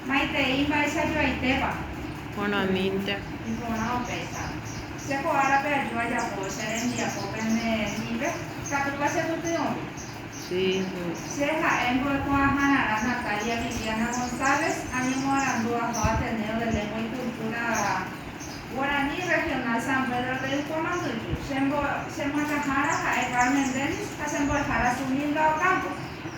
Maitei mba'eichajoaitépa. Porãmínte. Iporã opéicha. Che ko árape aju ajapo che rembiapo pende rrĩpe, katúpa che pyty'õmi. Sí. Che ha'e mbo'ekuaahararã Natalia Viviana González, añemoarandu aho Ateneo de Lengua y Cultura Guaraní Regional San Pedro de Ypò Manduju. Che mbo'ekuaahára ha'e Carmen Dennis ha che mbo'ehára Sunilda Ocampo.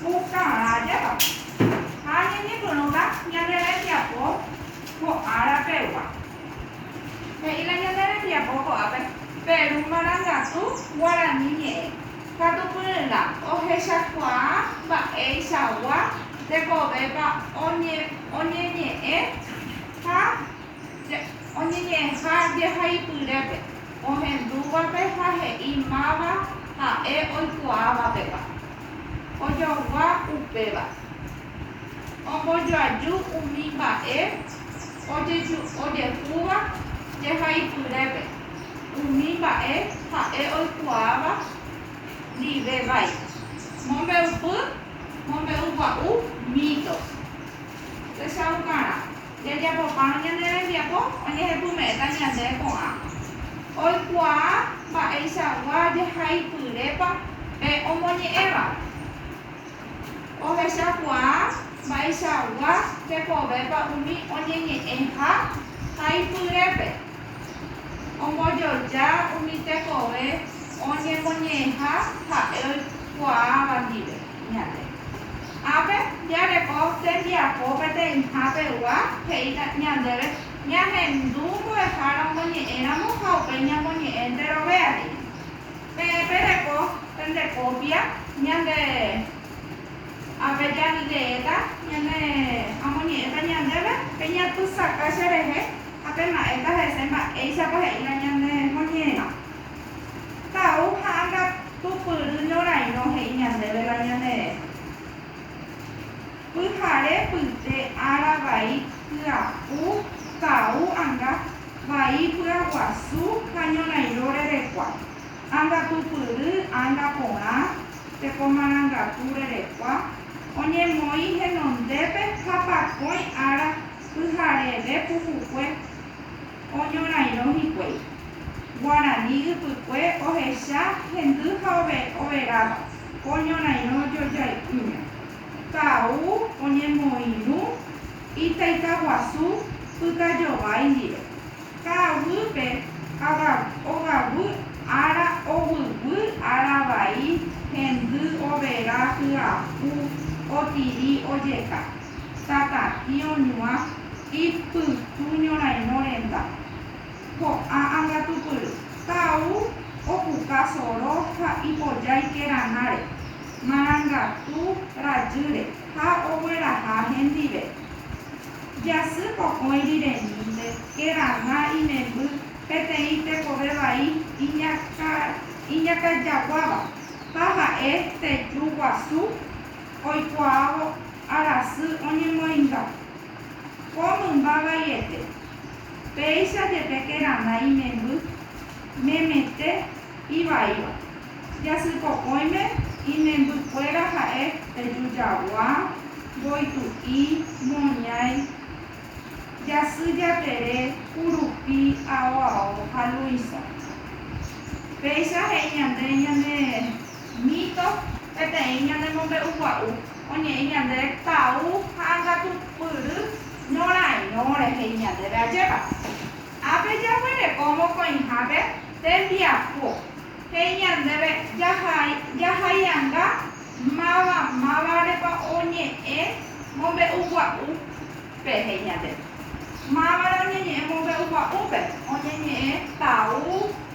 Pukavajépa ha ñañepyrũta ñande rembiapo ko ára pegua. He'i la ñande rembiapo ko'ápe Peru marangatu guarani ñe'ẽ katu pyryrã ohechakuaa mba'eichagua tekovépa oñeñe'ẽ ha oñeñe'ẽha jehaipyrépe ohendúvape ha he'i máva ha'e oikuaávapepa. ojogua upéva. Ombojoaju umi mba'e ojejúva jehaipyrépe, umi mba'e ha'e oikuaáva ndive vai. Mombe'upy mombe'ugua'u mito. Techaukarã. Jajapopárõ ñane rembiapo oñehepyme'ẽta ñande ko'ã oikuaa mba'eichagua jahaipyrépa pe omoñe'ẽva. Ohechakuaa mba'eichagua jekovépa umi oñeñe'ẽha haipyrépe. Ombojoja umi tekove oñemoñe'ẽha ha'e oikuaáva ndive ñande. Ápe jareko tembiapo peteĩha pegua, he'i ñandéve ñahendu mbo'ehára omoñe'ẽramo ha upéi ñamoñe'ẽnte rovea rire. Peẽ pereko pende kópia ñande ápe jarireéta ñane amoñe'ẽta ñandéve, peñapysaka cherehe ha pema'ẽta hese mba'éichapa he'íva ñanemoñe'ẽramo. Ka'u ha angapypyry ñorairõ he'i ñandéve la ñanere. Pyhare pyte ára vai pya'u ka'u anga vai py'aguasu ha ñorairõ rerekua, angapypyry anga porã tekomarangatu rerekua, oñemoĩ henondépe ha pakõi ára pyhareve puhukue. oñorairõ hikuái. Guarani ypykue ohecha hendy ha overáva, oñorairõ jojai'ỹme. Ka'u oñemoirũ itaitaguasu pytajovái ndive. Ka'aguýpe ogaguy ára oguiguy ára vai hendy overá hyapu otiri ojeka. tata'i oñuã ipytu ñorairõ renda, ko'ã angatupyry, tau opuka soro ha ipojái keranáre, marangatu rajýre ha ogueraha hendive. Jasy pokõi riremínte kerana imemby peteĩ tekove vai iñakãjaguáva ha ha'e teju guasu. oikuaávo arasy oñemoinga. Ko mymba vaiete, péicha jepe kerana imemby, memete, ivaíva. Jasypokõime imemby kuéra ha'e teju jagua, mboytu'i, moñái, jasy jatere, kurupi, ao ao ha luĩsa. Péicha he'i ñande ñane. Mito, peteĩ ñane mombe'ugua'u oñe'ẽ ñande tau ha angatupyry ñorãirõ rehei ñandéve ajépa. Ápe jaguereko mokõihápe tembiapo, he'i ñandéve jahai jahaianga máva mávarepa oñe'ẽ mombe'ugua'u pe he'i ñande. Mávarõ oñeñe'ẽ mombe'ugua'úpe, oñeñe'ẽ tau,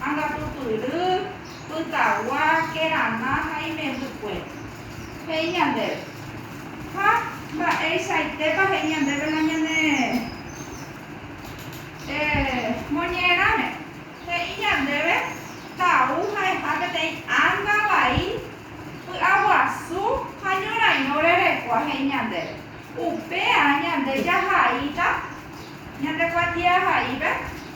angatupyry, Pytagua, kerama ha imembykuéra. He'i ñandéve. Ha mba'eichaitépa he'i ñandéve la ñane moñe'ẽrãme? He'i ñandéve tau ha'eha peteĩ ánga vai py'aguasu ha ñorairõ rerekua he'i ñandéve. Upéa ñande jahaíta ñande kuatiahaípe.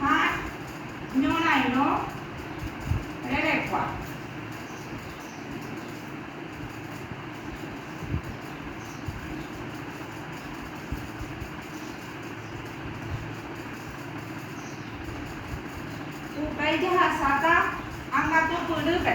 ha ñorairõ rerekua. Upéi jahasáta angatu pyrýpe.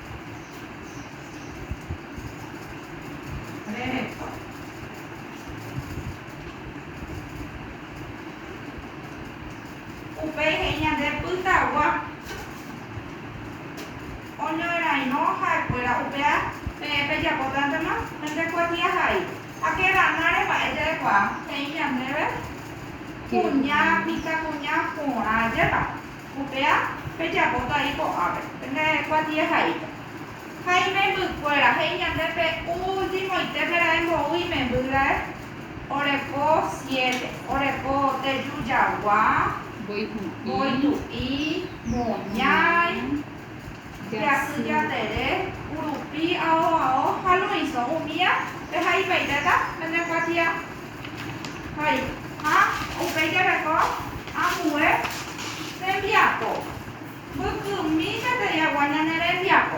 Upéi he'i ñande pytagua oñorairõ ha'ekuéra upéva peẽ pejapótantema pende kuatiahai. Ha Keranare mba'e ja'ekuaa he'i ñandéve kuña mitãkuña porã jepa. Upéva pejapóta ái ko'ápe, pende kuatie haípe. Ha imembykuéra he'i ñande pe últimoite pe ra'e mbou imemby ra'e, oreko siete, oreko teju jagua, voi tu'i, moñái. Jasy jatere, urupi, ao ao ha Luiso, umía, pe ha ipaitéta pende kuatia hai. Ha upéi jereko ambue rembiapo. Mbykymi peteĩ agua ñane rembiapo.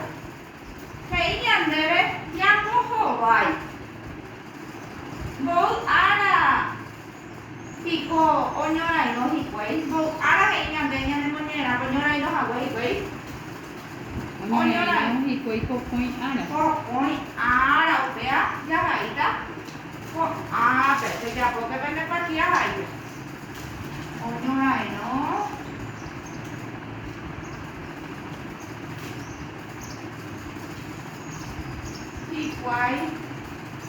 He'i ñandéve ñambohovái. Mboy ára. Piko oñorairõ hikuái? Mbou ára he'i ñande ñanemoñe'ẽramo ñorairõ hague hikuái. Oñorairõ hikuái pokõi ára. Pokõi ára upéva jahaíta ko'ápe. Pejapóke pende partida haípe. Oñorairõ hikuái.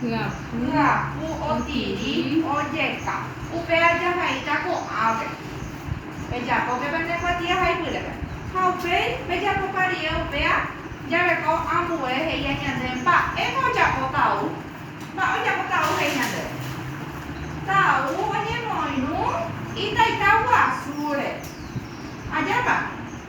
Hyapu otiri ojeka. Upe ajahaíta ko'ãve. Pejapóke pene kuatia ha ipyrépe. Ha upéi, pejapopa rie upéa, jareko ambue he'íha ñande mba'épa ojapo Tau. Mba'e ojapo Tau he'i ñandéve. Tau oñemoirũ itaita guasúre. Ajépa?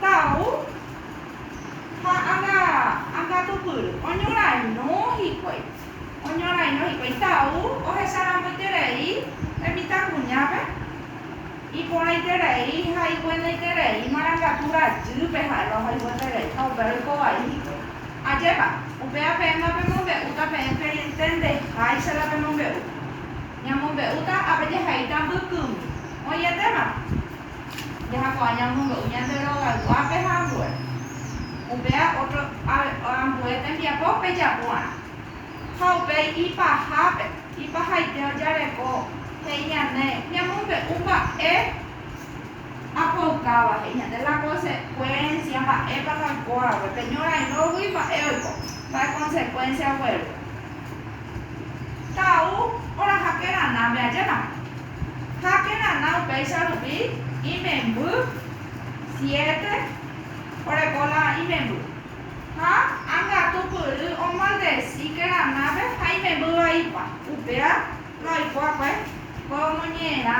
Tau ha anga, anga tupyry. Oñorairõ hikuái, oñorairõ hikuái. Tau ohecharamboiterei hemitakuñápe, iporãiterei ha iguenoiterei marangatu rajýpe ha'éva ohayhueterei ha upéva ikovai hikuái. Ajépa, upéva peẽma pemombe'úta peẽ perentendeháicha la pemombe'u. Ñamombe'úta apejehe'íta mbykymi. Oĩetéma? Jajapo'aña omonge'u ñande rogayguápe ha ambue. Upéva ótro ambue tembiapo pejapu'arã. Ha upéi ipahápe, ipahaite ojareko, he'i ñane, ñamombe'u mba'e apoukáva, he'i ñande la konsekuénsia, mba'épa la oikóramo, pe ñorairõgui mba'e oiko, mba'e konsekuénsia ogueru. Ka'au oraha kerana ame'ãjéramo. Ha kerana upéicha rupi imemby siete oreko la imemby. Ha angatupyry omaldeci keranápe ha imemby vaipa. Upéva la oikuakue ko omoñe'ẽrã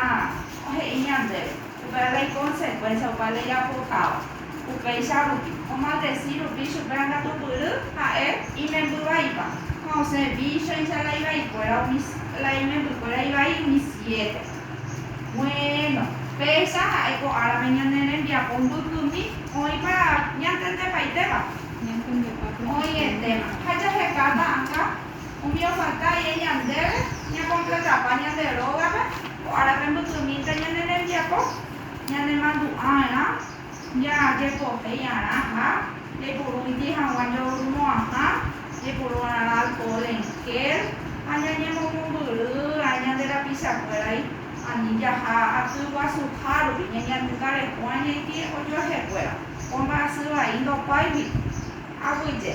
he'i ñandéve. Upéva la ikonsecuencia opa la ijapotáva. Upéicha rupi, omaldeci rupi chupe angatumpyry ha'e imemby vaipa, ha osẽ víchoicha la ivaikuéra umi, la imembykuéra ivai umi siete. Buéno, péicha ha'e ko árame ñane rembiapo mbykymi oĩpa ñantendepaitéva? Oĩetéma. Ha jahekáta akã, umi ofalta aie ñandéve ñakompletapa ñande rógape ko árape mbykymínte ñane rembiapo, Ñanemandu'a'arã jajepohéi'arã ha jaipurúnte hag̃ua joyrumo'ãha jeporu'arã alcohol en gel ha ñañemomombyry'ỹrã ñande rapichakuéragui ani jaha aty guasuhárupi ñañandukareko añaite ojuehekuéra. Ko mba'asy vai ndopáigui aguyje.